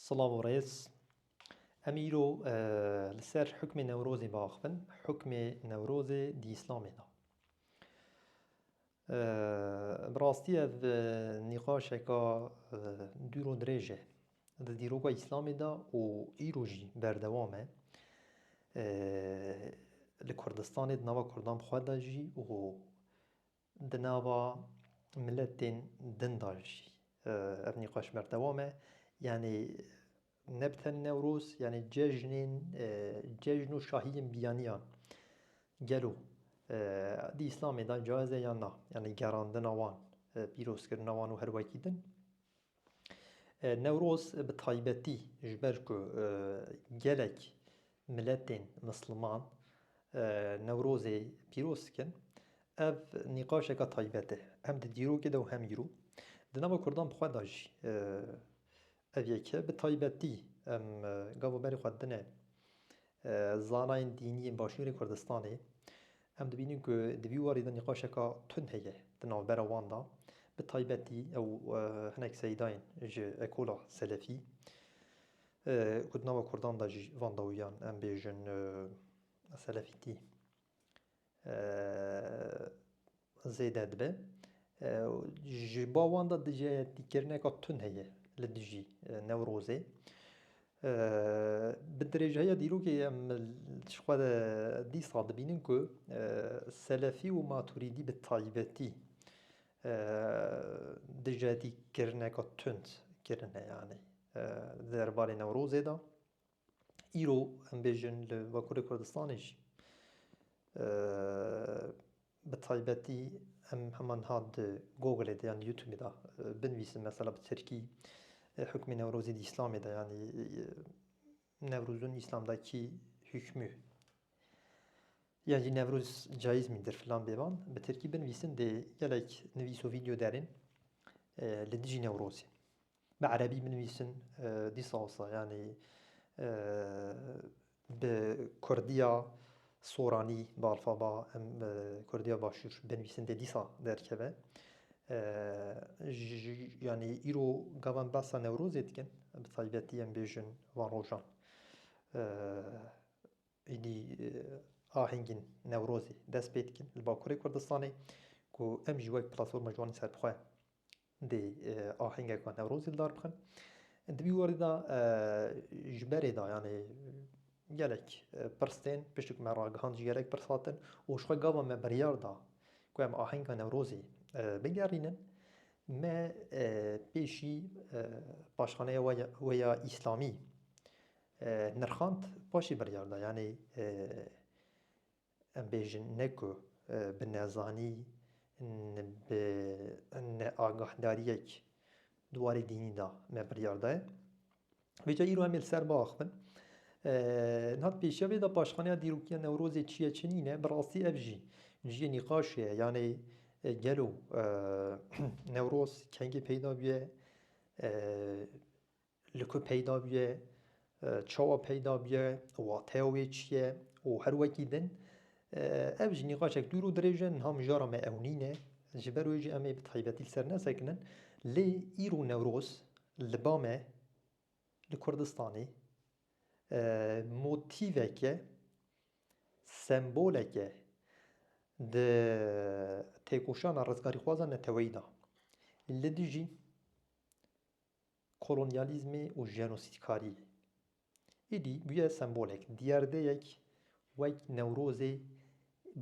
Silav û rêz. Em îro li ser hukmê Newrozê biaxivin. Hukmê Newrozê di Îslamê de. Bi rastî ev nîqaşeke dûr û dirêj e di dîroka Îslamê de û îro jî berdewam e. Li Kurdistanê di nava Kurdan xwe de jî û Di nava miletên din de jî ev nîqaş berdewam e. Yanî ne bi tenê Newroz, yanî cejnên cejn û şahiyên biyaniyan gelo di Îslamê de caiz e yan na? Yanî gerandina wan, pîrozkirina wan û her wekî din. Newroz bi taybetî ji ber ku gelek miletên misliman Newrozê pîroz dikin, ev nîqaşeke taybet e, hem di dîrokê de û hem îro. Di nava Kurdan bi xwe de jî ev yek e. Bi taybetî em gava berê xwe didine Zanayên dînî yên Başûrê Kurdistanê, em dibînin ku di vî warî de nîqaşeke tund heye di navbera wan de, bi taybetî ew hinek seydayên ji ekola selefî ku di nava kurdan de jî van dawiyan em bêjin selefîtî. zêde dibe û ji bo wan de dijehêtîkirineka tund heye li dijî Newrozê. Bi dirêjeya dîrokê em ji xwe re dîsa dibînin ku selefî û maturîdî bi taybetî dijehêtîkirineka tund kirine yanî di derbarê Newrozê de. îro em bêjin li Bakurê Kurdistanê jî bi taybetî em hema niha di Googleê de yan di Youtubê de binivîsin mesela bi Tirkî hukmê Newrozê di Îslamê de yanî Newrozun Îslam de kî hukmû yan jî Newroz cayîz mîndir filan bêvan bi Tirkî binivîsin dê gelek nivîs û vîdeo derên li dijî Newrozê. Bi erebî binivîsin dîsa wisa yanî bi kurdiya soranî bi alfaba em kurdiya başûr binivîsin dê dîsa derkeve. Yanî îro gava em behsa Newrozê dikin bi taybetî em bêjin van rojan êdî ahengên Newrozê dest pê dikin li Bakurê Kurdistanê ku em jî wek platforma ciwanên serbi xwe dê ahêngeka Newrozê li dar bixin. Di vî warî de ji berê de yanê gelek pirs tên, piştî ku me ragihand jî gelek pirs hatin û ji xwe gava me biryar da ku em ahenga Newrozê bigerînin. Me pêşî paşxaneya we ya Îslamî nirxand, paşê biryar da yanê Em bêjin ne ku bi nezanî û bi neagahdariyek di warê dînî de me biryar daye. Vê ca îro em ê li ser biaxivin. Niha di pêşiya vê de paşxaneya dîrokiya Newrozê çi ye çi nîne, bi rastî ev jî cihê nîqaşê ye. Yanê gelo Newroz kengî peyda bûye? li ku peyda bûye, çawa peyda bûye, wateya wê çi ye û her wekî din ev ji nîqaşek dûr û dirêj e, niha mijara me ew nîne, ji ber wê jî em ê bi taybetî li ser nesekinin. Lê îro Newroz li ba me li Kurdistanê motîvek e, sembolek e di têkoşana rizgarîxwazan neteweyî de. Li dijî kolonyalîzmê û jenosîdkariyê. Êdî bûye sembolek, diyardeyek wek Newrozê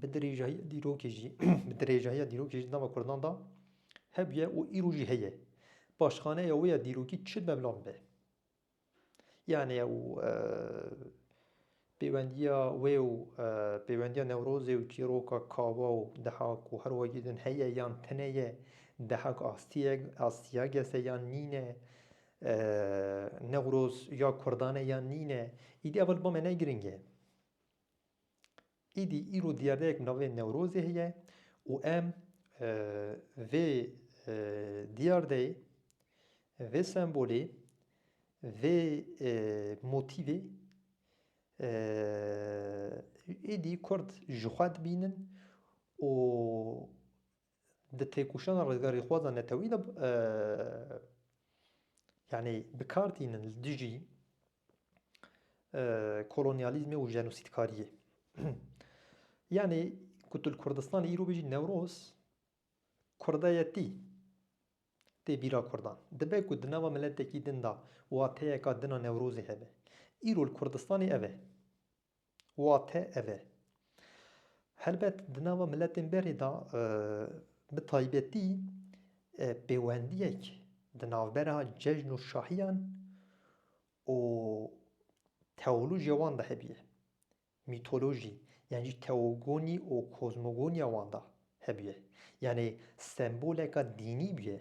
bi dirêjahiya dîrokê jî bi dirêjahiya dîrokê jî di nava Kurdan de hebûye û îro jî heye. Paşxaneya wê ya dîrokî çi meblan be. Yanê ew Pêwendiya wê û pêwendiya Newrozê û çîroka Kawa û Dehak û her wekî din heye yan tune ye? Dehak astiyek astiyagese e yan nîn e? Newroz ya Kurdan e yan nîn e? Îdî ev li ba me ne giring e. Îdî îro diyardeyek bi navê Newrozê heye û em vê diyardeyê, vê sembolê Vê motîvê êdî Kurd ji xwe dibînin û di têkoşana rizgarîxwazan netewî de yanî bi kar tînin li dijî kolonyalîzmê û jenosîdkariyê. Yanî ku tu li Kurdistanê îro bijî Newroz Kurdayetî tê bîra Kurdan. Dibe ku di nava miletekî din de wateyeka din a Newrozê hebe. Îro li Kurdistanê ev e. Wate ev e. Helbet di nava miletên berê de bi taybetî pêwendiyek di navbera cejn û şahiyan û tewlûjê wan de hebîye. Mîtolojî yan jî teogonî û kozmogoniya wan de hebûye. Yanê semboleka dînî bûye.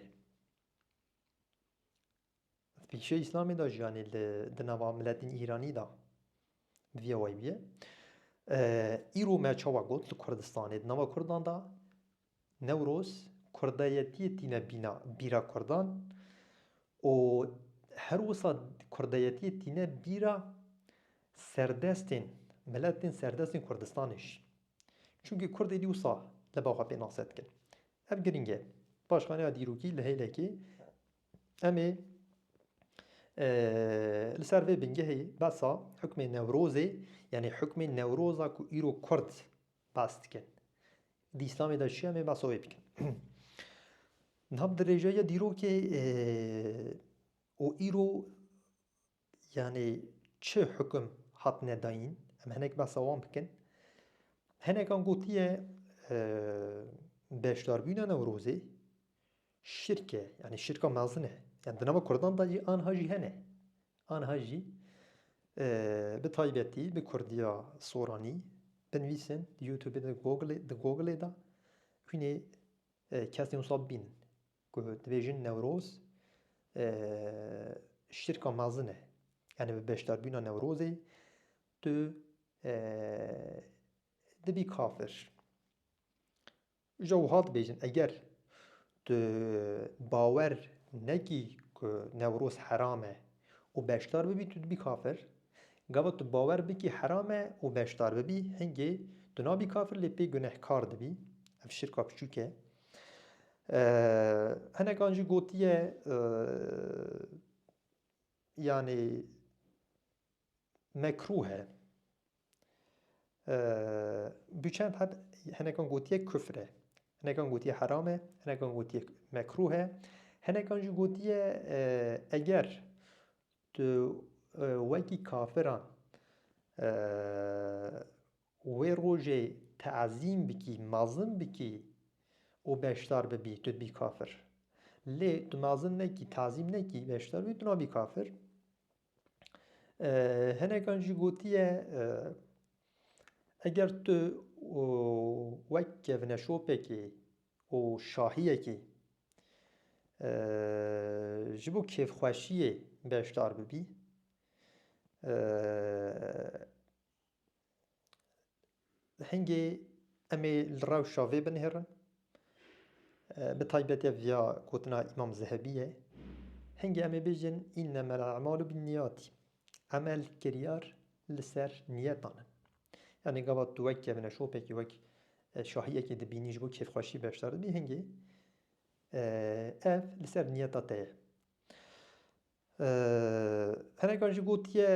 Di pêşiya Îslamê de jî yanê li di nava miletên Îranî de bi vî awayî bûye. Îro me çawa got li Kurdistanê di nava Kurdan de Newroz kurdayetiyê tîne bîna bîra kurdan û her wisa kurdayetiyê tîne bîra serdestên, miletên serdestên Kurdistanê jî. Çunkî kurdê dî wisa li ba xwe pênase dikin. Ev girîng e. Paşxaneya dîrokî li hêlekê em ê li ser vê bingehê behsa hukmê Newrozê yanî hukmê Newroza ku îro kurd Bas dikin. Di Îslamê de çi ye em ê basa wê bikin. Niha bi dirêjeya dîrokê û îro yanê çi hukum hatine dayîn em hinek behsa wan bikin. Hinekan gotiye beşdarbûna Newrozê Şirk e, yanî şirka mezin e. Yan di nava Kurdan de jî anha jî hene. Anha jî bi taybetî bi Kurdiya Soranî binivîsin di YouTubeê de Googleê di Googleê de hûnê kesên wisa bibînin ku dibêjin Newroz şirka mezin e. Yanî bi beşdarbûna Newrozê tu dibî kafir. Uca wiha dibêjin, Eger tu bawer nekî ku Newroz heram e û beşdar bibî tu dibî kafir, gava tu bawer bikî heram e û beşdar bibî hingê tu nabî kafir lê pê gunehkar dibî, ev şirka piçûk e. Hinekan jî gotiye yanî. Mekruh e. Bi çend hat hinekan gotiye kufr e. Hinekan gotiye heram e, hinekan gotiye mekruh e. Hinekan jî gotiye eger tu wekî kafiran wê rojê teezîm bikî, mezin bikî û beşdar bibî tu dibî kafir. Lê tu mezin nekî, teezîm nekî, beşdar bibî tu nabî kafir. Hinekan jî gotiye eger tu wek kevneşopekî û şahiyekî ji bo kêfxweşiyê beşdar bibî Hingê em ê li rewşa vê binihêrin, bi taybet ev ya gotina Îmam Zehebî ye. Hingê em ê bêjin înneme l-e'malu bin-nîyatî, emel kiryar li ser nîyetan in. Yanî gava tu wek kevine şopekê, wek şahiyekê dibînî ji bo kêfxweşî beşdar dibî, hingê ev li ser nîyeta te ye. Hinekan jî gotiye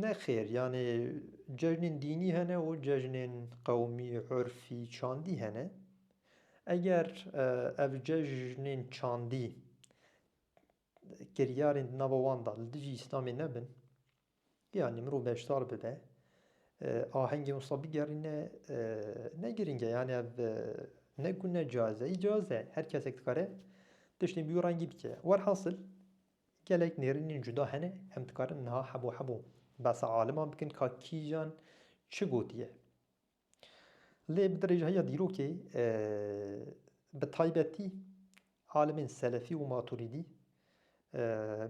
nexêr yanê cejnên dînî hene û cejnên qewmî, urfî, çandî hene. Eger ev cejnên çandî kiryarên di nava wan de li dijî Îslamê nebin, Yanî mirov beşdar bibe, ahengê wisa bigerîne ne girîng e. Yanî ev ne ku ne caiz e, îcaiz e. Her kesek dikare tiştên bi wî rengî bike. Werhasil gelek nêrînên cuda hene, em dikarin niha hebo hebo behsa aliman bikin ka kîjan çi gotiye. Lê bi dirêjhiya dîrokê bi taybetî alimên Selefî û Matûrîdî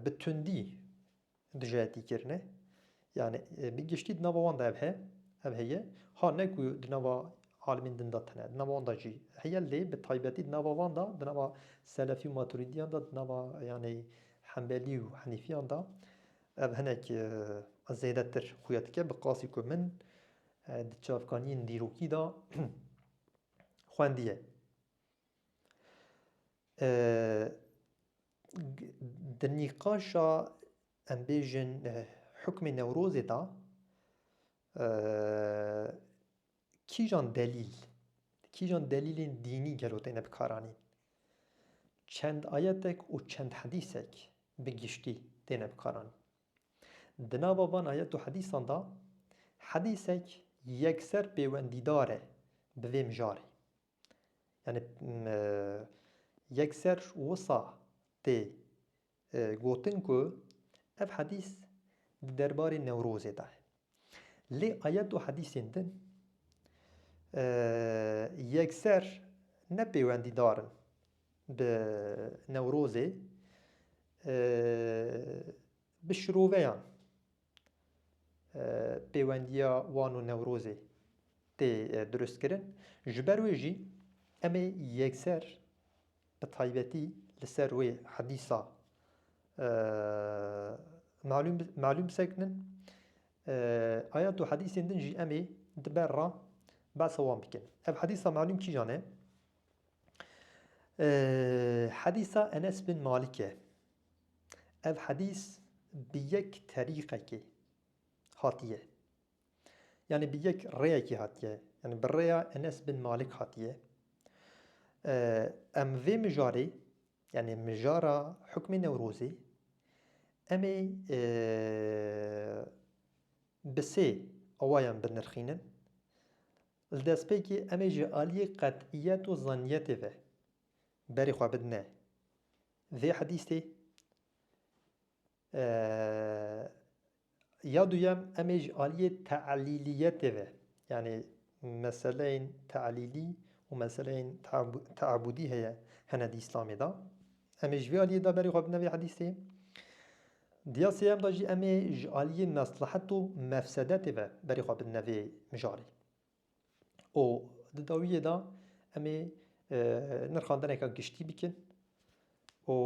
bi tundî dijayetî kirine. Yanî bi giştî di nava wan de ev he, ev heye. Ha ne ku di nava alimên din de tune, di nava wan de jî heye lê bi taybetî di nava wan de, di nava Selefî û Matûrîdiyan de, di nava yanî Hembelî û Henîfiyan de ev hinek zêdetir xuya dike. Bi qasî ku min Di çavkaniyên dîrokî de xwendiye. Di nîqaşa em bêjin hukmê Newrozê de kîjan delîl, kîjan delîlên dînî gelo têne bikaranîn? Çend ayetek û çend hedîsek bi giştî têne bikaranîn? Di nava van ayet û hedîsan de hedîsek yekser pêwendîdar e bi vê mijarê. Yanî yekser wisa tê gotin ku ev hedîs di derbarê Newrozê de ye. Lê ayet û hedîsên din yekser ne pêwendîdar in bi Newrozê, bi şiroveyan pêwendiya wan û Newrozê tê durustkirin. Ji ber wê jî em ê yekser Bi taybetî li ser wê hedîsa malûm malûm sekinin. Ayet û hedîsên din jî em ê di ber re behsa wan bikin. Ev hedîsa malûm kîjan e? Hedîsa Enes bin Malik e. Ev hedîs bi yek terîqekê hatiye. Yanî bi yek rêyekî hatiye. Yanî bi rêya Enes bin Malik hatiye. Em vê mijarê yanî mijara hukmê Newrozê em ê bi sê awayan binirxînin. Li destpêkê em ê ji aliyê qet'iyet û zanniyetê ve berê xwe bidine vê hedîstê. Ya duyem em ê ji aliyê teelîliyetê ve yanî meseleyên teelîlî û meseleyên teabûdî heye hene di Îslamê de. Em ê ji vê aliyê de berê xwe bidin vê hedîsê. Diya sêyem de jî em ê ji aliyê meslehet û mefsedetê ve berê xwe bidin vê mijarê. û di dawiyê de em ê nirxandineke giştî bikin û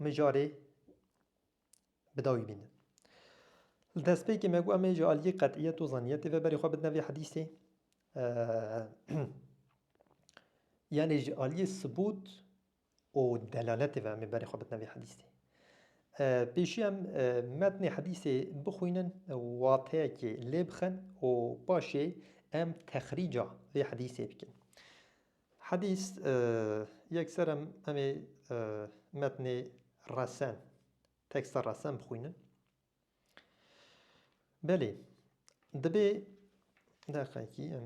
mijarê bi dawî bînin. Li destpêkê me got em ê ji aliyê qetiyet û zaniyetê ve berê xwe bidin vê hedîsê. Yanê ji aliyê subût û delaletê ve em ê berê xwe bitin vê hedîsê. Pêşî em metnê hedîsê bixwînin, wateyekê lê bixin û paşê em texrîca vê hedîsê bikin. Hedîs yekser em em ê metnê resen, teksta resen bixwînin. Belê dibê deqekî em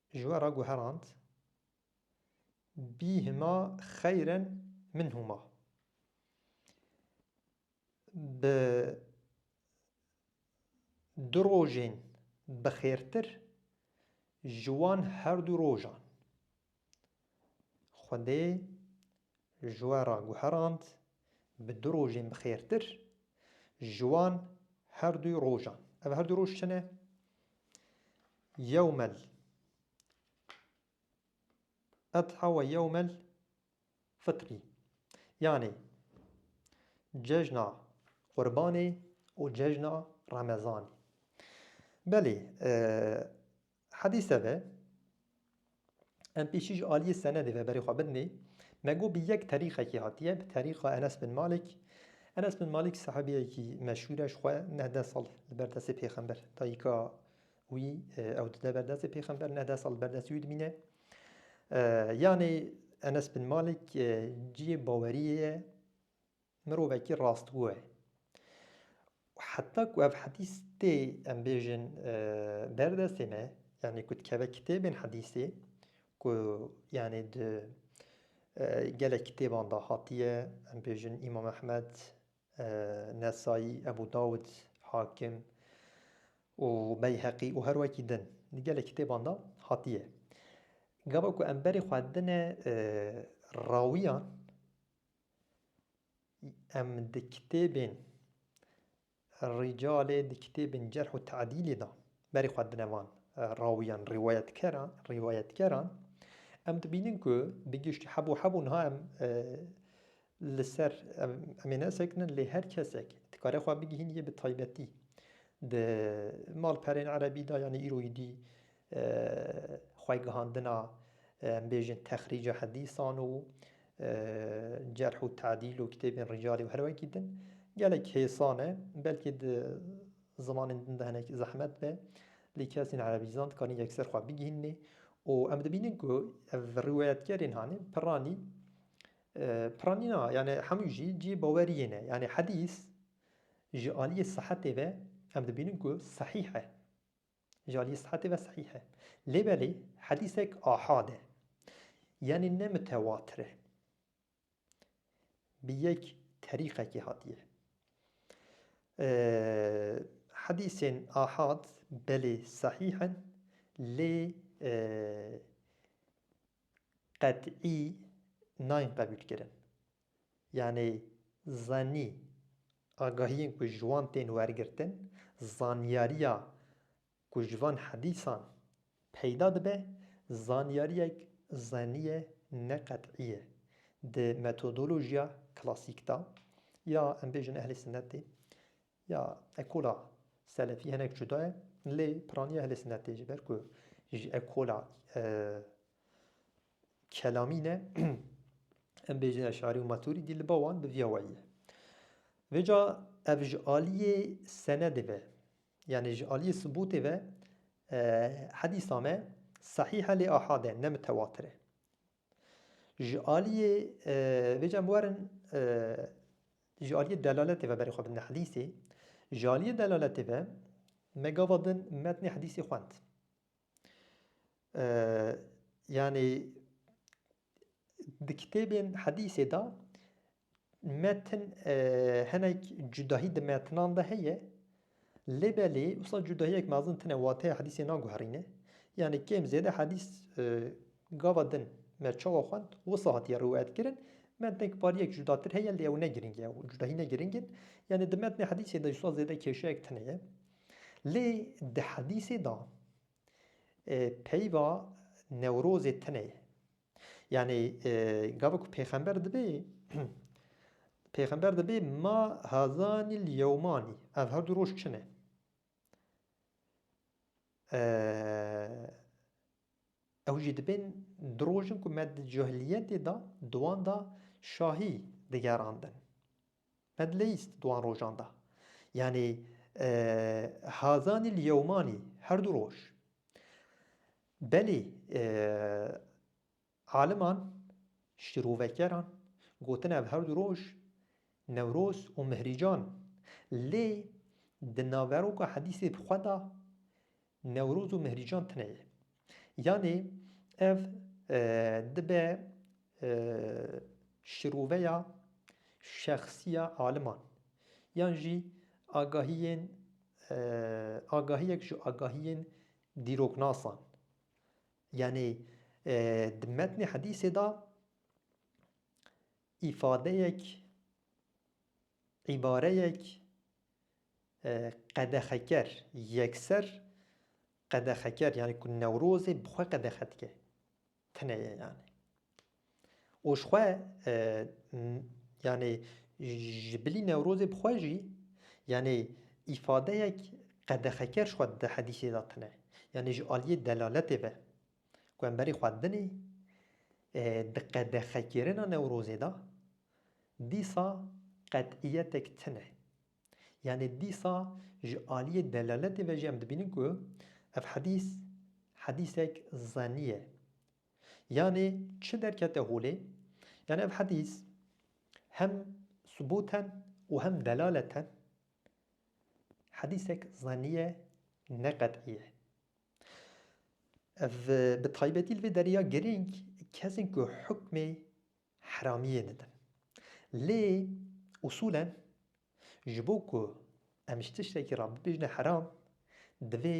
Ji we re guherand. Bî hima xeyren min hûma. Bi du rojên bi xêrtir ji wan herdû rojan. Xwedê Ji we re guherand bi du rojên bi xêrtir ji wan her du rojan. Ev her du roj çi ne? Yewmel Edha we yewmel Fitrî. Yanê cejna Qurbanê û cejna Remezanê. Belê Hedîse de em pêşî ji aliyê senedê ve berê xwe bidinê. Me got bi yek terîqekî hatiye, bi terîqa Enes bin Malik. Enes bin Malik sahebiyekî meşhûr e ji xwe neh deh sal li ber destê pêxember dayika wî ew dide ber destê pêxember neh deh sal li ber destê wî dimîne. Yanê Enes bin Malik cihê baweriyê ye Mirovekî rastgo ye. Û heta ku ev hedîs tê em bêjin ber destê me, yanî ku dikeve kitêbên hedîsê ku yanî di gelek kitêban de hatiye, em bêjin Îmam Ehmed, Nesayî, Ebû Dawûd, Hakim û Beyheqî û her wekî din. Di gelek kitêban de hatiye. Gava ku em berê xwe dine rawiyan, Em di kitêbên Rîcalê, di kitêbên Cerh û Te'dîlê de berê xwe dine van rawiyan, rîwayetkeran, rîwayetgeran. Em dibînin ku bi giştî hebû hebû niha em li ser em em ê nesekinin lê her kesek dikare xwe bigihînî yê bi taybetî di malperên erebî de yanî îro yê dî xwegihandina em bêjin texrîca hedîsan û cerh û tedîl û kitêbên rîcalî û her wekî din gelek hêsan e. Belkî di zimanên din de hinek zehmet be lê kesên erebîzan dikarin yekser xwe bigihînê û em dibînin ku ev rîwayetkerên hanê piranî piranî na yanî hemû jî cihê bawerî yên e. Yanî hedîs ji aliyê sihetê ve em dibînin ku sehîh e. Ji aliyê sihetê ve sehîh e. Lê belê hedîsek ahad e. Yanî ne mitewatir e. Bi yek terîqekê hatiye. Hedîsên ahad belê sehîh in lê qet'î nayên qebûlkirin. Yanî zanî agahiyên ku ji wan tên wergirtin, zanyariya ku ji van hedîsan peyda dibe, zanyariyek zanî ye ne qet'î ye. Di metodolojiya klasîk de ya em bêjin ehlê sinetê ya ekola selefî hinek cuda ye lê piraniya ehlê sinetê ji ber ku ji ekola Kelamîne em bêjin Eş'arî û Matûrîdî li ba wan bi vîya wayî ye. Vê ca ev ji alîyê senedê ve yanî ji alîyê subûtê ve hedîsa me sehîh e lê ahad e ne mitewatir e. Ji alîyê vê ca em werin ji alîyê delaletê ve berê xwe bidin hedîsê. Ji alîyê delaletê ve me gava din metnê hedîsê xwend. Yanî di kitêbên hedîsê de metin hinek cudahî di metinan de heye lê belê wisa cudahiyek mezin tune wateya hedîsê naguherîne yanî kêm zêde hedîs gava din me çawa xwend wisa hatiye rûyetkirin metnek pariyek cudatir heye lê ew ne girîng e cudahî ne girîng in yanî di metnê hedîsê de wisa zêde kêşeyek tune ye. Lê di hedîsê de peyva Newrozê tune ye. Yanî gava ku pêxember dibe pêxember dibe ma hazanî li yewmanî ev her du roj çi ne? Ew jî dibên du roj in ku me di cahiliyetê de di wan de şahî digerandin. Me dileyîst di wan rojan de. Yanî hazanî li yewmanî her du roj. Belê Aliman, şîrovekeran gotin ev her du roj, Newroz û Mihrîcan, lê di naveroka hedîsê bi xwe de Newroz û Mihrîcan tine ye. Yanê ev dibe şîroveya şexsî ya aliman yan jî agahiyên agahiyek ji agahiyên dîroknasan Yanî di metnê hedîsê de îfadeyek, îbareyek qedexeker, yekser qedexeker yanî ku Newrozê bi xwe qedexe dike, tune ye yanî. Û ji xwe yanê ji bilî Newrozê bi xwe jî yanê îfadeyek qedexeker ji xwe di hedîsê de tine. Yanê ji aliyê delaletê ve ku em berê xwe dinê di qedexekirina Newrozê de dîsa qet'iyetek tine. Yanê dîsa ji aliyê delaletê ve jî em dibînin ku ev hedîs hedîsek zenî ye. Yanê çi derkete holê? Yanê ev hedîs hem subûten û hem delaleten hedîsek zennî ye ne qet'î ye. Ev bi taybetî li vê derê ya girîng kesên ku hukmê heramiyê didin. Lê usûlen ji bo ku em ji tiştekî re bibêjine heram divê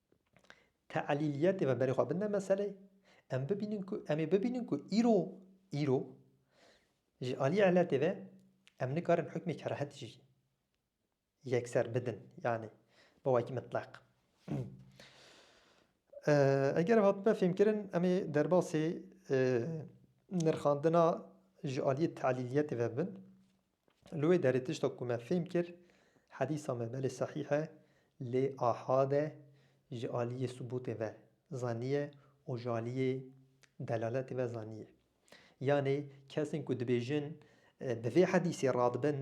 teelîliyetê me berê xwe binde meseleyê. Em bibînin ku em ê bibînin ku îro îro ji aliyê eletê ve em nikarin hukmê kerahetî jî yekser bidin yanî bi wekî mitleq. Eger ev hatbe fêmkirin em ê derbasê nirxandina ji aliyê teelîliyetê ve bibin. Li wê derê tişta ku me fêm kir, hedîsa me belê sehîh e lê ahad e ji aliyê subûtê ve zaniye û ji aliyê delaletê ve zaniye. Yanê kesên ku dibêjin bi vê hedîsê radibin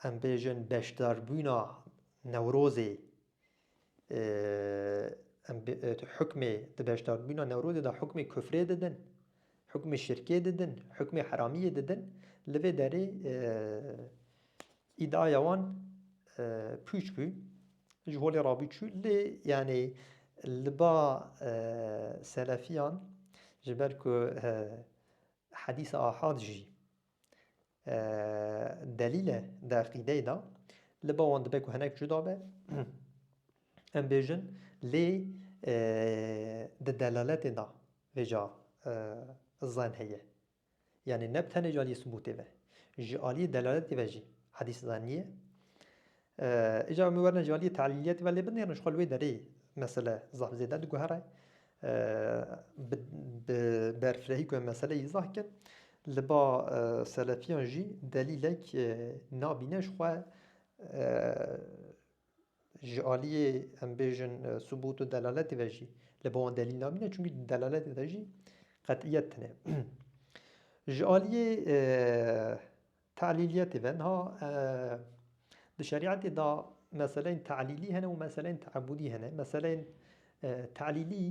em bêjin beşdarbûna Newrozê Em hukmê di beşdarbûna Newrozê de hukmê kufrê didin, hukmê şirkê didin, hukmê heramiyê didin. Li vê derê îdiaya wan pûç bû, ji holê rabû çû. Lê yanî li ba selefiyan ji ber ku hedîsa ahad jî. Delîl e di eqîdeyê de. Li ba wan dibe ku hinek cuda be. Em bêjin lê di delaletê de vê ca zen heye. Yanî ne bi tenê ji aliyê subûtê ve. Ji aliyê delaletê ve jî hedîs zen nîye. Îcar min werine ji aliyê tehlîliyê dibe lê binêrin jixwe li wê derê mesele zaf zêde diguhere. Bi berfirehî ku em meseleyê izah kin li ba selefiyan jî delîlek nabîne jixwe ji aliyê em bêjin subût û delaletê ve jî li ba wan delîl nabîne çimkî di delaletê de jî qet'iyet tune. Ji aliyê Te'lîliyetê ve niha di şerîetê de meseleyên te'lîlî hene û meseleyên te'ebûdî hene. Meseleyên te'lîlî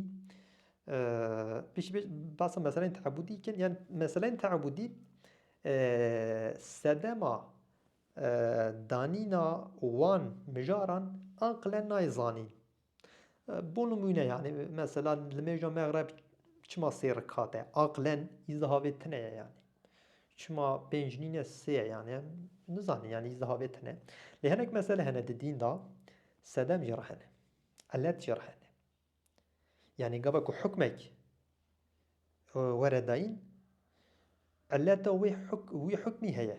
pêşî pêş behsa meseleyên te'ebûdî dikin yan meseleyên te'ebûdî sedema danîna wan mijaran aqile nayê zanîn. Bo nimûne yanî mesela li mêja mexreb çima sê rikat e? Aqlen îzdihavê tune ye yanî. Çima pênc nîne sê ye yanî em nizanin yanî îzdihavê tune. Lê hinek mesele hene di dîn de sedem jî re hene, ilet jî re hene. Yanî gava ku hukmek were dayîn ileta wê huk wî hukmî heye.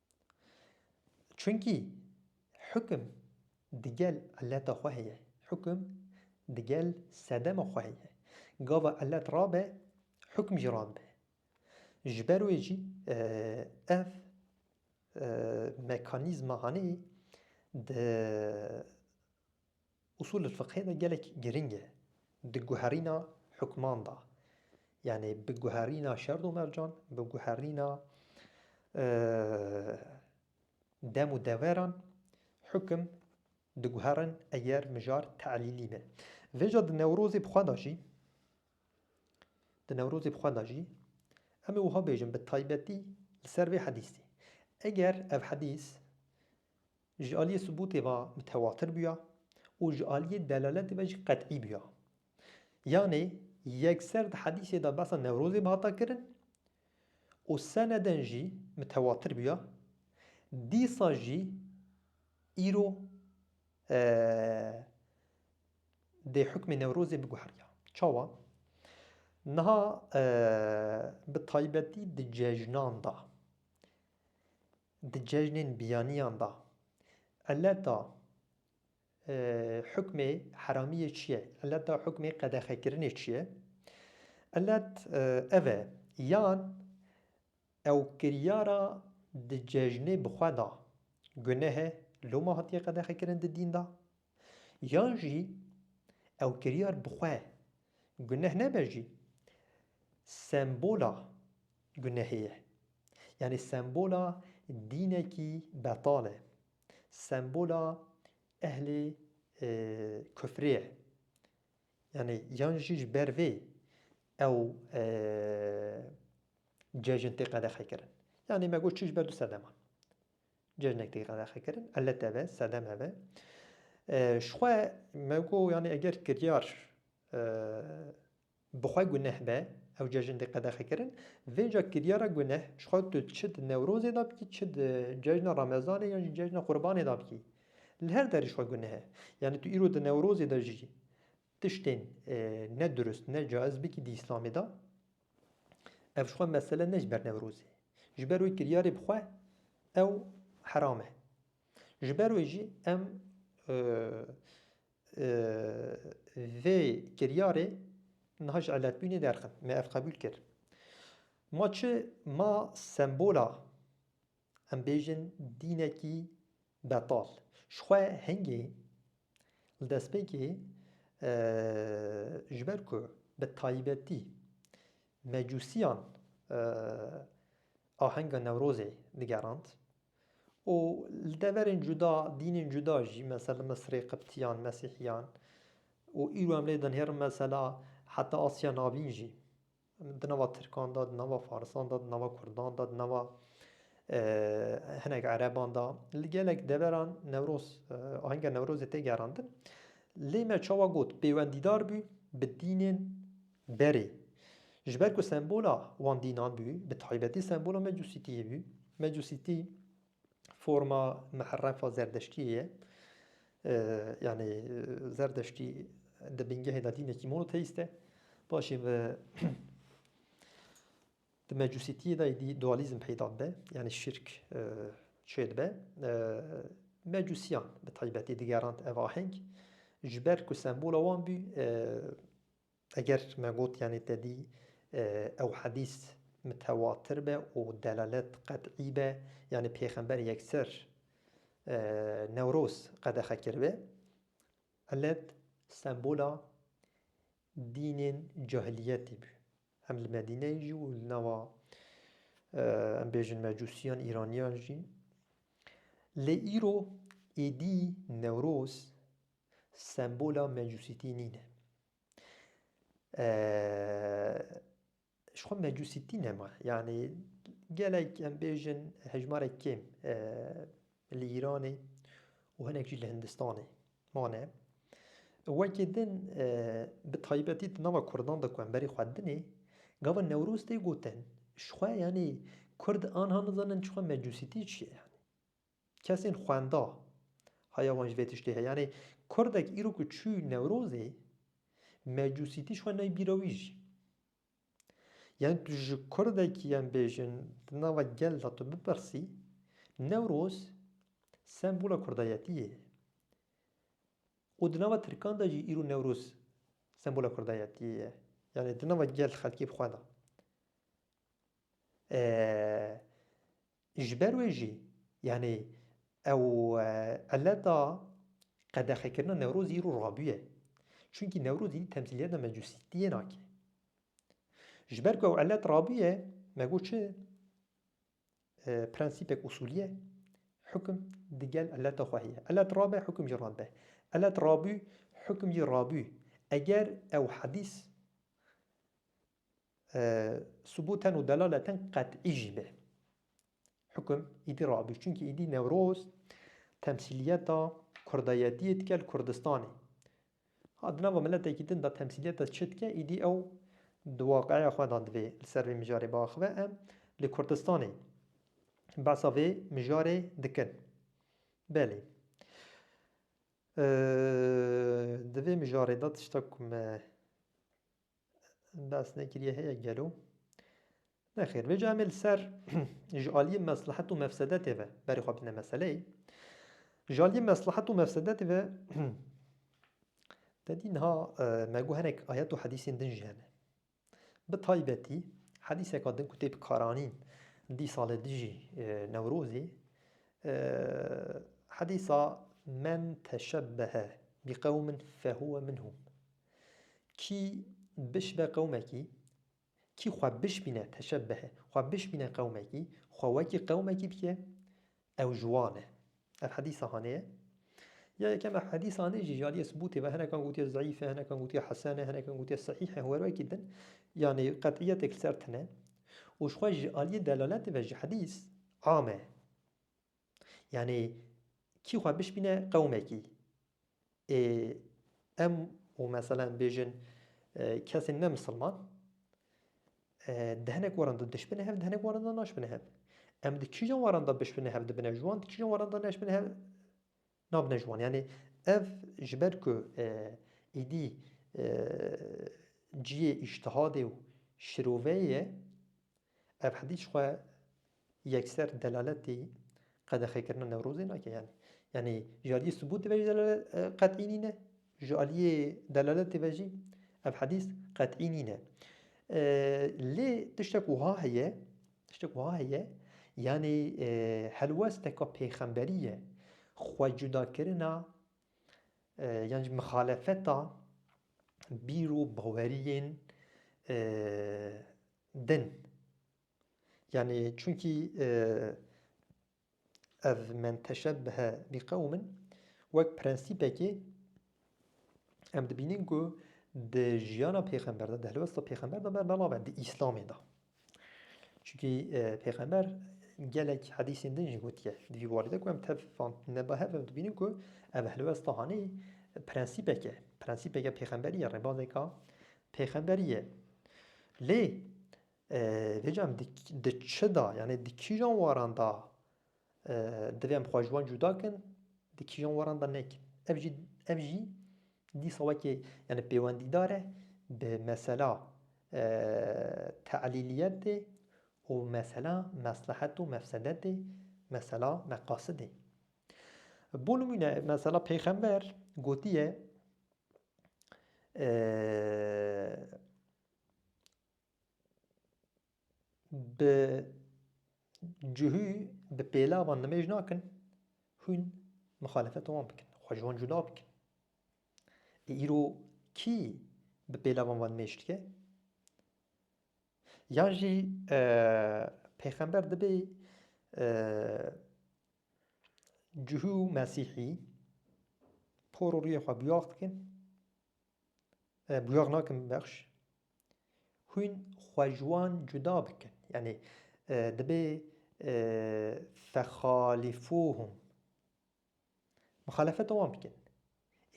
Çunkî hukum digel eleta xwe heye, hukum digel sedema xwe heye. Gava elet rabe, hukum jî rabe. Ji ber wê jî ev mekanîzma hanê di Usûlulfiqhê de gelek girîng e di guherîna hukman de yanî bi guherîna şerd û mercan, bi guherîna dem û deveran hukim diguherin eger mijar te'lîlî be. Vêca di Newrozê bi xwe de jî di Newrozê bi xwe de jî em ê wiha bêjin bi taybetî li ser vê hedîsî eger ev hedîs Ji aliyê subûtê ve mitewatir bûya û ji aliyê delaletê ve jî qet'î bûya. Yanê yekser di hedîsê de behsa Newrozê bi hata kirin û seneden jî mitewatir bûya, dîsa jî îro dê hukmê Newrozê biguheriya. Çawa? Niha bi taybetî di cejnan de. Di cejnên biyaniyan de ileta hukmê heramiyê çi ye? Ileta hukmê qedexekirinê çi ye? Ilet ev e yan ew kiryara di cejnê bi xwe da guneh e loma hatiye qedexekirin di dîn de? Yan jî ew kiryar bi xwe guneh nebe jî sembola gunehê ye. Yanî sembola dînekî betal e. Sembola ehlê kufrê ye. Yanî yan jî ji ber vê ew cejin tê qedexekirin. Yanî me got çi ji ber du sedeman. Cejnek tê qedexekirin, elet ev e, sedem ev e. Ji xwe me got yanî eger kiryar bi xwe guneh be, ew cejin tê qedexekirin, vê ca kiryara guneh ji xwe tu çi di Newrozê de bikî, çi di cejna Remezanê yan jî cejna Qurbanê de bikî. Li her derî ji xwe guneh e. Yanî tu îro di Newrozê de jî tiştên nedurist, necaiz bikî di Îslamê de, Ev ji xwe mesele ne ji ber Newrozê. Ji ber wê kiryarê bi xwe ew heram e. Ji ber wê jî em vê kiryarê niha ji eletbûnê derxin. Me ev qebûl kir. Ma çi ma sembola Em bêjin dînekî betal. Jixwe hingê li destpêkê ji ber ku bi taybetî mecûsiyan ahenga Newrozê digerand û li deverên cuda, dînên cuda jî mesela li Misirê Qiptiyan, Mesîhiyan û îro em lê dinêrin mesela heta Asya Navîn jî. Di nava Tirkan de, di nava Farisan de, di nava Kurdan de, di nava hinek Ereban de, li gelek deveran Newroz, ahenga Newrozê tê gerandin. Lê me çawa got pêwendîdar bû bi dînên berê. Ji ber ku sembola wan dînan bû, bi taybetî sembola Mecusîtiyê bû. Mecusîtî Forma Miherefa Zerdeştiyê ye. Yanî Zerdeştî di bingehê de dînekî monoteîst e. Paşê ve di Mecusîtiyê de dî dualîzm peyda dibe, yanî şirk çê dibe. Mecusîyan bi taybetî digerand ev aheng, ji ber ku sembola wan bû Eger me got yanî tedî ew hedîs mitewatir be û delalet qet'î be yanî pêxember yekser Newroz qedexe kiribe, ilet sembola dînên cahiliyetî bû. Hem li Medîneyê jî û li nava em bêjin mecûsiyan, îraniyan jî. Lê îro êdî Newroz Sembola mecusîtî nîne. Ji xwe mecusîtî nema. Yanî gelek em bêjin hejmarek kêm li Îranê û hinek jî li Hindistanê mane. Wekî din bi taybetî di nava Kurdan de ku em berî xwe dinê gava Newroz tê gotin ji xwe yanî Kurd anha nizanin ji xwe mecusîtî çi ye. Kesên xwenda haya wan ji vê tiştê heye. Yanê kurdek îro ku çû Newrozê mecusîtî ji xwe ney bîra wî jî. Yanê tu ji kurdekî em bêjin di nava gel de tu bipirsî Newroz sembola kurdayetî ye. Û di nava tirkan de jî îro Newroz sembola kurdayetî ye. Yanê di nava gel xelkê bi xwe de. Ji ber wê jî yanî ew eleta qedexekirina Newrozî îro rabûye. Çunkî Newrozî temsîliyeta mecusîtiyê nake. Ji ber ku ew elet rabûye me got çi prensîpek usûlîye hukm digel eleta xwe heye. Elet rabe hukm jî rabe. Elet rabû hukm jî rabû. Eger ew hedîs subûten û delaleten qet'î jî be. Hukm îdî rabûyî çunkî îdî Newroz temsîliyeta kurdayetiyê dike li Kurdistanê. Ha di nava miletekî din de temsîliyeta çi dike îdî ew di waqiya xwe de divê li ser vê mijarê biaxive. Em li Kurdistanê behsa vê mijarê dikin. Belê. Di vê mijarê de tişta ku me Bes nekiriye heye gelo? Nexêr, vê cayê me li ser ji aliyê meslihet û mefsedetê ve berê xwe bidine meseleyê. Ji aliyê meslihet û mefsedetê ve te dî niha me got hinek ayet û hedîsên din jî hene. Bi taybetî hedîseka din ku tê bi karanîn dîsa li dijî Newrozê hedîsa men teşebbehe bi qewmin fehuwe minhum. Kî bişibe qewmekî, kî xwe bişbîne teşebbehe, xwe bişbîne qewmekî, xwe wekî qewmekî bike, ew ji wan e. Ev hedîsa hanê ye. Ya yekem ev hedîsa hanê jî ji aliyê subûtê ve hinekan gotiye zeîf e, hinekan gotiye hesen e, hinekan gotiye sehîh e, were wekî din. Yanî qet'iyetek li ser tune. Û ji xwe ji aliyê delaletê ve ji hedîs am e. Yanî kî xwe bişbîne qewmekî. Ê em û meselen bêjin kesên ne misilman di hinek waran de dişbine hev di hinek waran de naşbine hev. Em di kîjan waran de bişbine hev dibine ji wan di kîjan waran de neşbine hev Nabine ji wan. Yanî ev ji ber ku êdî ciyê îştihadê û şiroveyê ye, ev hediç xwe yekser delaletî qedexekirina Newrozê nake. Yanî yanî ji aliyê subûtê ve jî delalet qet'î nîne, ji aliyê delaletê ve jî ev hedîs qet'î nîne. Lê tiştek wiha heye Tiştek wiha heye, yanî helwesteka pêxemberî ye, xwecudakirina yan jî mixalefeta bîr û baweriyên din. Yanî çunkî ev men teşebbehe bi qewmin wek prensîpekê em dibînin ku di jiyana pêxember de, di helwesta pêxember de berna nabe di îslamê de. Çunkî e, pêxember gelek hedîsên din jî gotiye di vî barî de ku em tev van neba hev em dibînin ku ev helwesta hanê prensîpeke prensîpeke pêxemberî ye rêbazeka pêxemberî ye. Lê Vêcan di çi da yanê di kîjan waran da divê em xwe ji wan cuda kin di kîjan waran da nekin. Ev jî ev jî dîsa wekî yanê pêwendîdar e bi mesela teelîliyetê û mesela meslehet û mefsedetê mesela meqasidê. Bo nimûne mesela pêxember gotiye Bi cihû bi pêlavan nimêj nakin hûn mixalefeta wan bikin, xwe ji wan cuda bikin. Lê îro kî bi pêlavan wan nimêj dike? Yan jî pêxember dibê cihû û mesîhî por û rûyê xwe biyax bikin. Bûyar nakim bexş. Hûn xwe ji wan cuda bikin. Yanî dibê fexalîfûhûm. Mixalefeta wan bikin.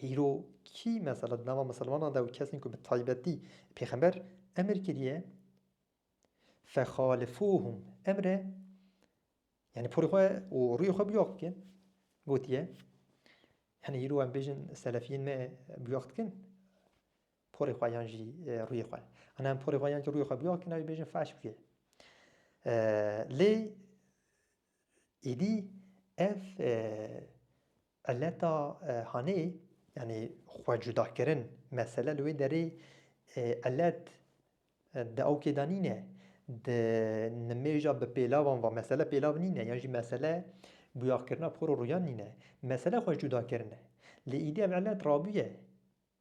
Îro kî mesela di nava misilmanan de û kesên ku bi taybetî pêxember emir kiriye Fexalifuhum emre yani porê xwe û rûyê xwe biyaq bikin gotiye yani îro em bêjin selefiyên me biyaq dikin porê xwe yan jî rûyê xwe an em porê xwe yan jî rûyê xwe biyaq dikin navê bêjin faş bike lê Êdî ev eleta hanê yanî xwe cudakirin mesele li wê derê elet di ewkê de nîne di nimêja bi pêlavan ve mesele pêlav nîne yan jî mesele bûyakirina por û rûyan nîne mesele xwe cudakirin e lê êdî ev elet rabûye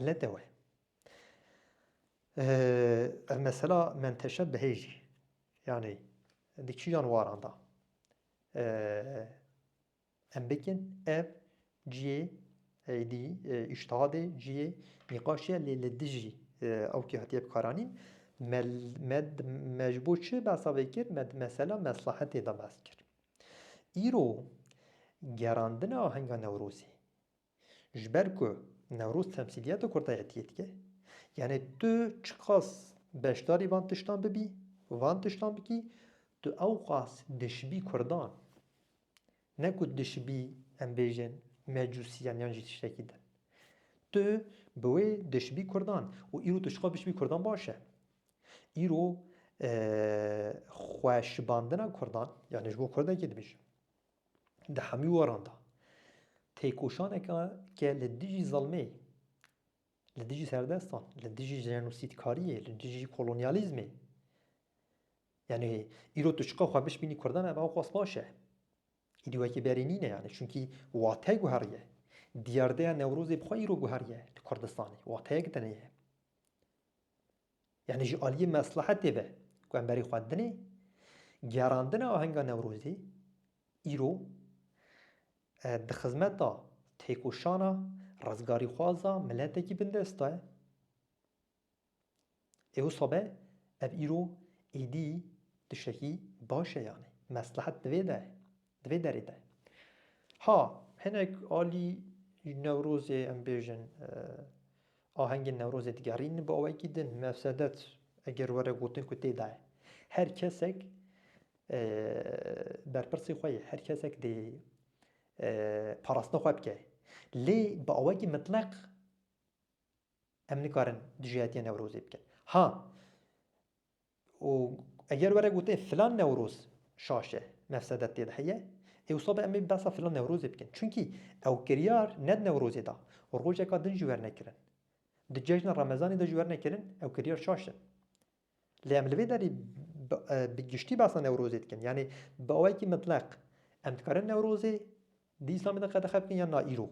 Elete we. Ev mesela menteşe bihêjî. Yanî di kîjan waran da em bikin ev ciyê eydî îştihadê ciyê nîqaşiye lê li dijî ew kî hatiye bikaranîn me me me ji bo çi behsa vê kir me di mesela meslehetê de behs kir. Îro gerandina ahenga Newrozê Ji ber ku Newroz temsîliyeta kurdayetiyê dike. Yanê tu çiqas beşdarî van tiştan bibî, van tiştan bikî, tu ewqas dişibî kurdan. Ne ku dişibî em bêjin mecûsiyan yan jî tiştekî din. Tu bi wê dişibî kurdan û îro tu çiqas bişibî kurdan baş e. Îro xwe şibandina kurdan, yanê ji bo kurdekê dibêjim. Di hemû weran de têkoşaneke ke li dijî zilmê, li dijî serdestan, li dijî jenosîdkariyê, li dijî kolonyalîzmê yanî îro tu çiqas xwe bişbînî kurdan ev awqas baş e. Îdî wekî berê nîne yanî çunkî wate guheriye. Diyardeya Newrozê bi xwe îro guheriye li Kurdistanê. Wateyek din heye. Yanî ji aliyê meslehetê ve ku em berê xwendinê, gerandina ahenga Newrozê îro di xizmeta têkoşana rizgarîxwaza miletekî bindest de ye. Ê wisa be ev îro êdî tiştekî baş e yanî meslehet di vê de ye. Di vê derê de ha hinek alî Newrozê em bêjin ahengên Newrozê digerînin bi awayekî din mefsedet eger were gotin ku tê de ye. Her kesek berpirsê xwe ye, her kesek dê parastina xwe bike. Lê bi awayekî mitleq em nikarin dijayetiya Newrozê bikin. Ha Û eger were gote filan newroz şaş e, mefsedet tê de heye, ê wisa be em ê behsa filan newrozê bikin. Çimkî ew kiryar ne di newrozê de, rojeka din jî wernekirin. Di cejna remezanê de jî wernekirin, ew kiryar şaş in. Lê em li vê derê bi giştî behsa newrozê dikin. Yanî bi awayekî mitleq em dikarin newrozê Di Îslamê de qedexe bikin yan na îro?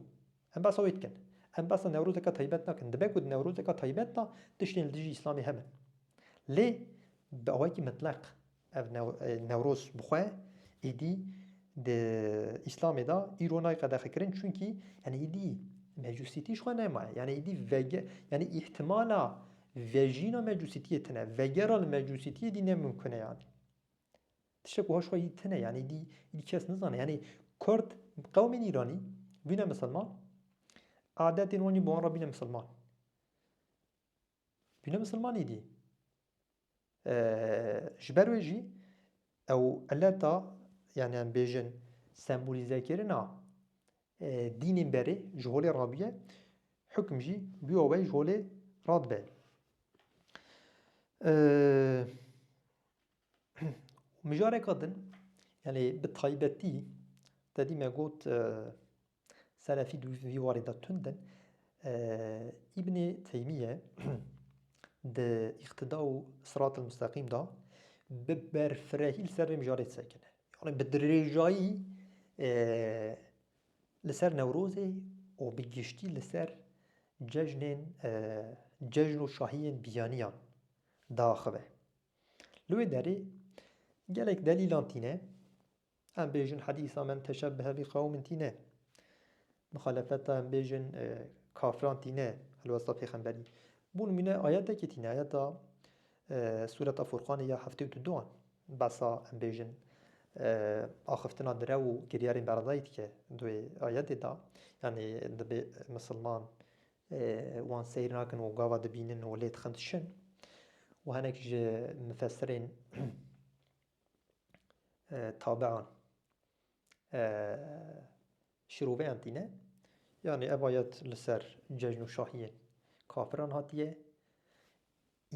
Em behsa wê dikin. Em behsa Newrozeke taybet nakin. Dibe ku di Newrozeke taybet de tiştên li dijî Îslamê hebin. Lê bi awayekî mitleq ev Newroz bi xwe êdî di Îslamê de îro nayê qedexekirin çunkî yanî êdî mecusîtî ji xwe nemaye. Yanî êdî vege yanî îhtimala vejîna mecusîtiyê tune. Vegera li mecusîtiyê êdî ne mimkune yanî. Tiştek wiha ji xwe yî tune yanî dî îdî kes nizane yanî kurd qewmên îranî bîne misilman adetên wan jî bi wan re bîne misilman. Bîne misilman îdî ji ber wê jî ew eleta yanî em bêjin sembolîzekirina dînên berê ji holê re bûye hukm jî bûya wê ji holê re dibe. û mijareka din yanî bi taybetî tedî me got Selefî di vî warê de tund in. Îbnê Teymîye di îqtida û sirat el musteqîm de bi berfirehî li ser vê mijarê sekine. Yanî bi dirêjayî li ser Newrozê û bi giştî li ser cejnên cejn û şahiyên biyaniyan diaxive. Li wê derê gelek delîlan tîne. Em bêjin hedîsa men teşebbehe bi qewmin tîne. Muxalefeta em bêjin kafiran tîne li westa pêxemberî. Bû nimûne ayetekê tîne ayeta Sûreta Furqanê ya heftê û duan behsa em bêjin axiftina di rew û kiryarên beredayî dike di wê ayetê de. Yanî divê misilman Wan seyr nakin û gava dibînin û lê dixin dişin. Û hinek ji mifesirên tabian şiroveyan tîne. Yanî ev ayet li ser cejn û şahiyên kafiran hatiye.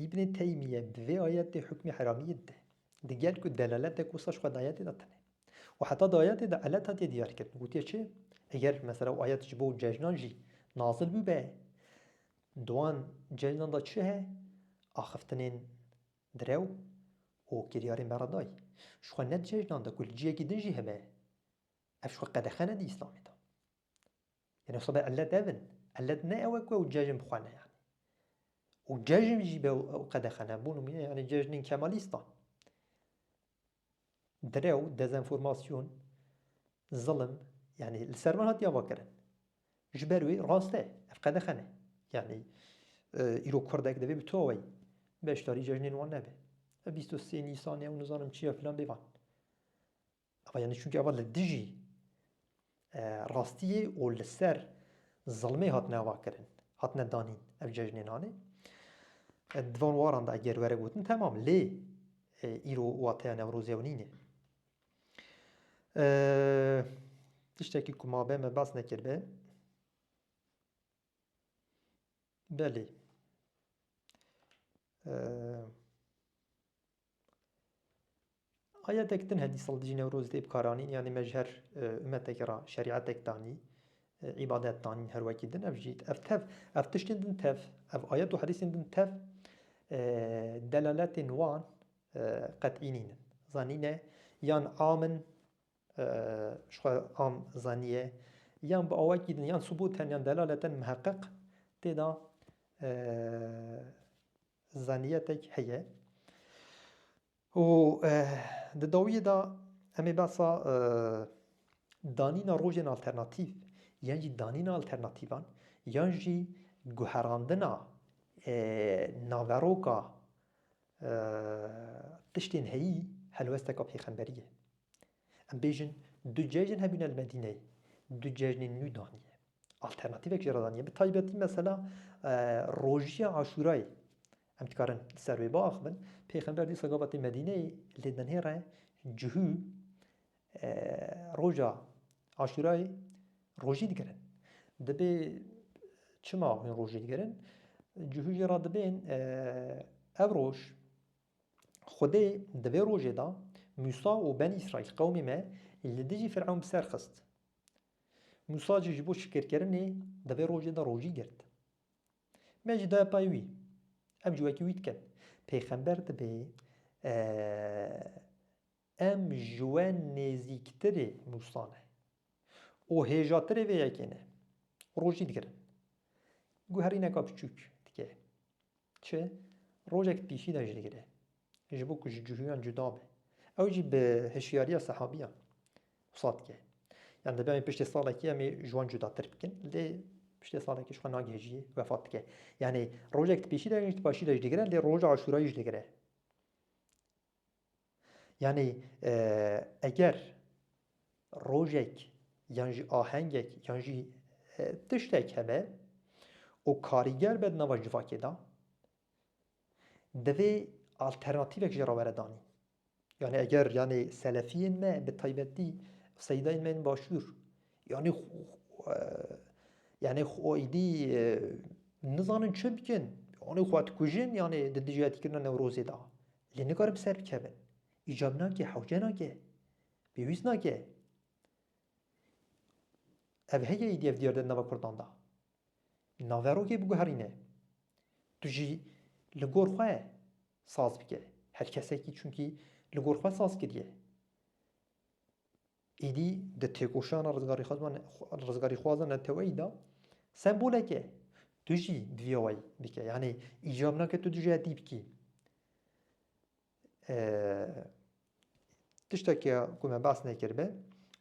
Îbnê Teymîye di vê ayetê hukmê heramîyê dide. Di gel ku delaletek wisa ji xwe di ayetê de tune. Û heta di ayetê de elet hatiye diyarkirin. Gotiye çi? Eger mesela û ayet ji bo cejnan jî nazil bûbe, di wan cejnan de çi he? Axiftinên direw û kiryarên beredayî. Ji xwe ne di cejnan de ku li ciyekî din jî hebe. Ev ji xwe qedexe ne di Îslamê de. Yanî wisa bê ilet ev in. Ilet ne ew e ku ew cejn bixwene yanî. Û cejn jî be ew qedexe ne. Bû nimûne yanî cejnên kemalîstan. Direw, dezenformasyon, zilim yanî li ser van hatiye avakirin. Ji ber wê rast e. Ev qedexe ne. Yanî îro kurdek divê bi taweyî beşdarî cejnên wan nebe. Ev bîst û sê nîsanê ew nizanim çi ye filan bê van. Ava yanî çunkî ava li dijî rastiyê û li ser zilmê hatine avakirin, hatine danîn ev cejnên anê. Di van waran de eger were gotin temam lê îro wateya Newrozê ew nîne. Tiştekî ku ma be me bas nekirbe. Belê. Ayetek din hedî sal dijî Newroz dê bikaranîn yanî me ji her umetekê re şerîetek danî, îbadet danîn her wekî din ev jî ev tev ev tiştên din tev ev ayet û hedîsên din tev delaletên wan qet'î nîn in. Zanîn e yan am in ji xwe am zaniye yan bi awayekî din yan subût hene yan delalet hene miheqeq tê de Zaniyetek heye û di dawiyê de em ê behsa danîna rojên alternatîf yan jî danîna alternatîfan yan jî guherandina naveroka tiştên heyî helwesteka pêxemberî ye. Em bêjin du cejn hebûne li Medîneyê, du cejnên nû danî ye. Alternatîvek jî re danî bi taybetî mesela rojiya Aşûrayê em dikarin li ser wê biaxivin. Pêxember dîsa gavetê Medîneyê lê denhê re cihû roja Aşûrayê rojî digirin. Dibê çima hûn rojî digirin? Cihû jî re dibên ev roj Xwedê di vê rojê de Mûsa û Benî Îsraîl qewmê me li dijî Firewn bi ser xist. Mûsa jî ji bo şikirkirinê di vê rojê de rojî girt. Me jî daye payê wî. Em jî wekî wî dikin. Pêxember dibe em ji we nêzîktirê Mûsa ne û hêjatirê vê yekê ne. Rojî digirin. Guherîneka biçûk dike. Çi? Rojek di pîşî de jî digire. ji bo ku ji cihûyan cuda be. Ew jî bi hişyariya sehabîyan wisa dike. Yan dibe em piştê salekî em ê ji wan cudatir bikin. Lê piştê salekî ji xwe nagihêjî wefat dike. Yanê rojek di pêşî de jî di paşî de jî digire lê roja aşûrayî jî digire. Yanê eger rojek yan jî ahengek yan jî tiştek hebe û karîger be di nava civakê de Divê alternatîvek jî re were danîn. Yanî eger yanî selefiyên me bi taybetî seydayên me yên başûr yanî yanî xwe êdî nizanin çi bikin yanî xwe dikujin yanî di dijîhatîkirina Newrozê de lê nikarin bi ser bikevin. Îcab nake, hewce nake, pêwîst nake. Ev heye êdî ev diyar de di nava Kurdan de. Naverokê biguherîne. Tu jî li gor xwe saz bike. Her kesekî çunkî li gor xwe saz kiriye. Êdî di têkoşana rizgarîxwazan neteweyî de sembolek e. Tu jî divê wayî bike. Yanî îcab nake tu dijî hetî bikî. Tiştekî ku me behs nekiribe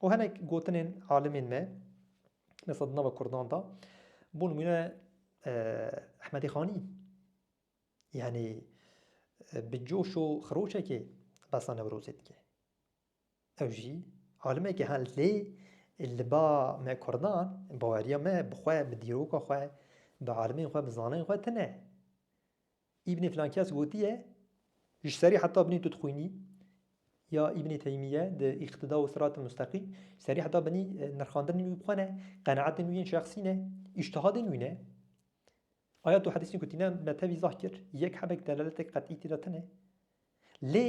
û hinek gotinên alimên me mesela di nava kurdan de bû nimûne Ehmedî Xanî yanî bi coş û xiroşekê behsa Newrozê dike. Ew jî alimekî hal lê li ba me kurdan baweriya me bi xwe, bi dîroka xwe, bi alimên xwe, bi zanayên xwe tune. Îbnê filankes gotiye, ji serî heta binê tu dixwînî ya Îbnê Teymîye di Îqtîda û Sirat-i Mustaqî, ji serî heta binî nirxandinên wî bi xwe ne, qenaetên wî yên şexsî ne, îctihadên wî ne. Ayet û hedîsên ku tîne me tevî izah kir, yek hebek delaletek qet'î tê de tune. Lê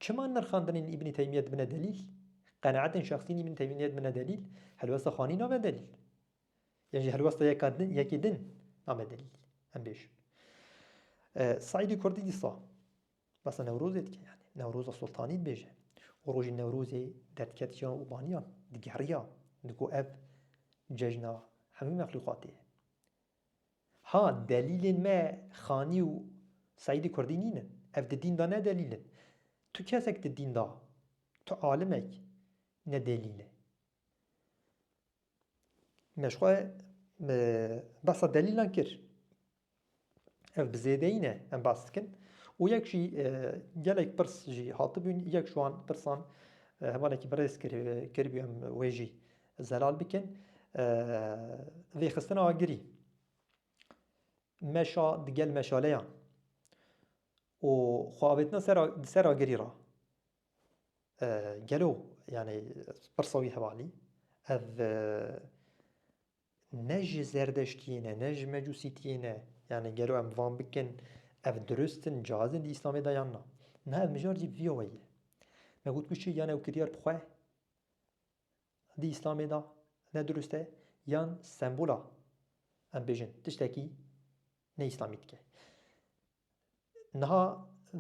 çima nirxandinên Îbnê Teymîye dibine delîl? Qenaetên şexsî yên Îbnê Teymîye dibine delîl, helwesta Xanî nabe delîl. Yan jî helwesta yeka din yekî din name delîl em bêjin. Saîdî Kurdî dîsa basa Newrozê dike yanî Newroza Sultanî dibêje û rojî Newrozê derdiketiya û baniya digeriya digo ev cejna hemû mexlûqatê ye. Ha delîlên me Xanî û Saîdî Kurdî nîn in. Ev di dîn de ne delîl in. Tu kesek di dîn de, tu alimek ne delîl e. Me ji xwe behsa delîlan kir. Ev bi zêdeyî ne em behs dikin û yek jî gelek pirs jî hatibûn, yek ji wan pirsan hevalekî bi rêz kiribû em wê jî zelal bikin. Vêxistina agirî meşa digel meşaleyan û xwe avêtina ser agirî re. Gelo yanî pirsa wî hevalî ev ne ji zerdeştiyê ne ne ji mecusîtiyê ne yanî gelo em van bikin ev dirust in caiz in di îslamê de yan na. Niha ev mijar jî vîya we ye. Me got ku çi yan ew kiryar bi xwe di îslamê de ne dirust e yan sembola em bêjin tiştekî ne îslamî dike. Niha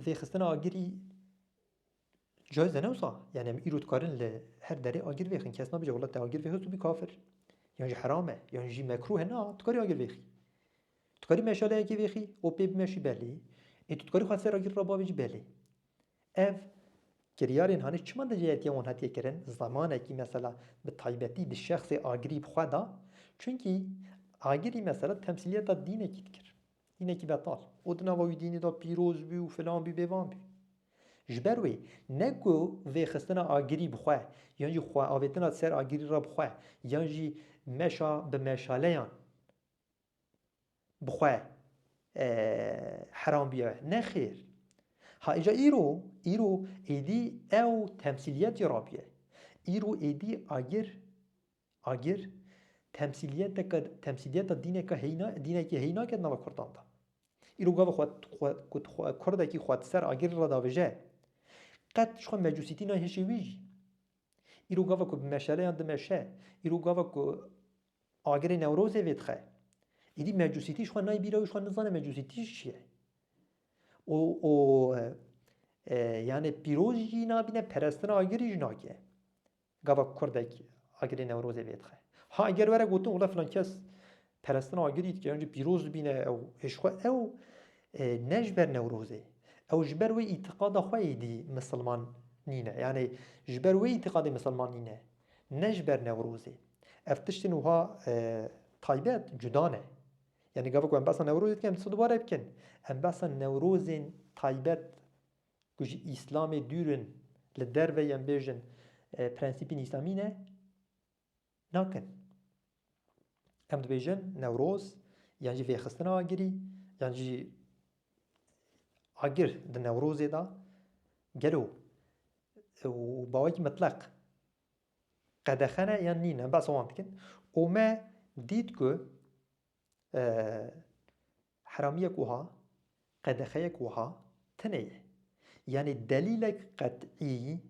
vê xistina agirî cayz e ne wisa? Yani em îro dikarin li her derê agir vêxin. Kes nabêje wela te agir vêxist û bî kafir. Yan jî heram e, yan jî mekruh e. Na, tu karî agir vêxî. Tu karî meşaleyekê vêxî û pê bimeşî belê. Ê tu dikarî xwe ser agir re bavêjî belê. Ev kiryarên hanê çima di cihetiya wan hatiye kirin? Zemanekî mesela bi taybetî di şexsê agirî bi xwe da. Çunkî agirî mesela temsîliyeta dînekî dikir. Dînekî betal û di nava wî dînê de pîroz bî û filan bî bê van bî. Ji ber wê ne ku vêxistina agirî bi xwe yan jî xweavêtina di ser agirî re bi xwe yan jî meşa bi meşaleyan bi xwe heram bîye. Nexêr. Ha îja îro, îro êdî ew temsîliyetê re bîye. Îro êdî agir. Agir, temsîliyeteke temsîliyeta dîneke heyna dînekî heyna ke di nava kurdan de. Îro gava xwe xwe ku tu xwe kurdekî xwe di ser agirê re davêje, qet ji xwe mecûsîtî nayhişê wî jî. Îro gava ku bi meşeleyan dimeşe, îro gava ku agirê Newrozê vêdixe, êdî mecûsîtî ji xwe nayê bîra wî, ji xwe nizane mecûsîtî jî çi ye. Û û yanê pîroz jî nabîne, perestina agirî jî nake. Gava kurdek agirê Newrozê vêdixe. Ha eger were gotin wele filan kes perestina agirî dike yan jî pîroz dibîne ew hêj xwe ew ne ji ber Newrozê ew ji ber wê îtîqada xwe êdî misilman nîne. Yanê ji ber wê îtîqadê misilman nîne ne ji ber Newrozê. Ev tiştên wiha taybet cuda ne. Yanê gava ku em behsa Newrozê dikin em dibêjin dubare bikin. Em behsa Newrozên taybet ku ji Îslamê dûr in li derve yên bêjin prensîpên Îslamî ne nakin. Em dibêjin Newroz yan jî vêxistina agirî yan jî agir di Newrozê de gelo û bawekî mitleq qedexe ne yan nîn em behsa wan dikin û me dît ku Heramiyek wiha, qedexeyek wiha tune ye. Yanî delîlek qet'î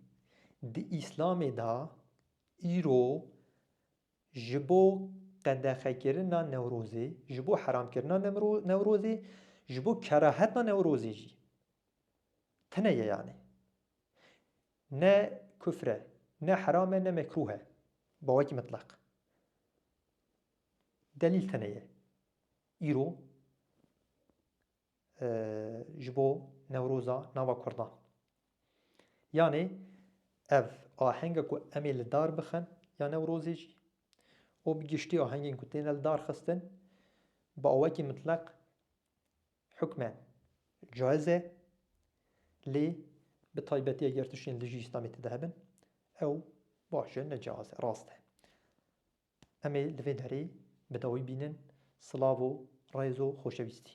di Îslamê de îro ji bo qedexekirina Newrozê, ji bo heramkirina Newrozê, ji bo kerahetina Newrozê jî tune ye yanî. Ne kufr e, ne heram e, ne mekrûh e. Bi wekî mitleq. Delîl tune ye. Îro ji bo Newroza nava Kurdan. Yanê ev ahenga ku em ê li dar bixin ya Newrozê jî û bi giştî ahengên ku têne li dar xistin bi awekî mitleq hukmen caiz e lê bi taybetî eger tiştên dijî Îslamê tide hebin ew baş e ne caiz e rast e. Em ê li vê derê bi dawî bînin. Silav û rêz û xoşewîstî.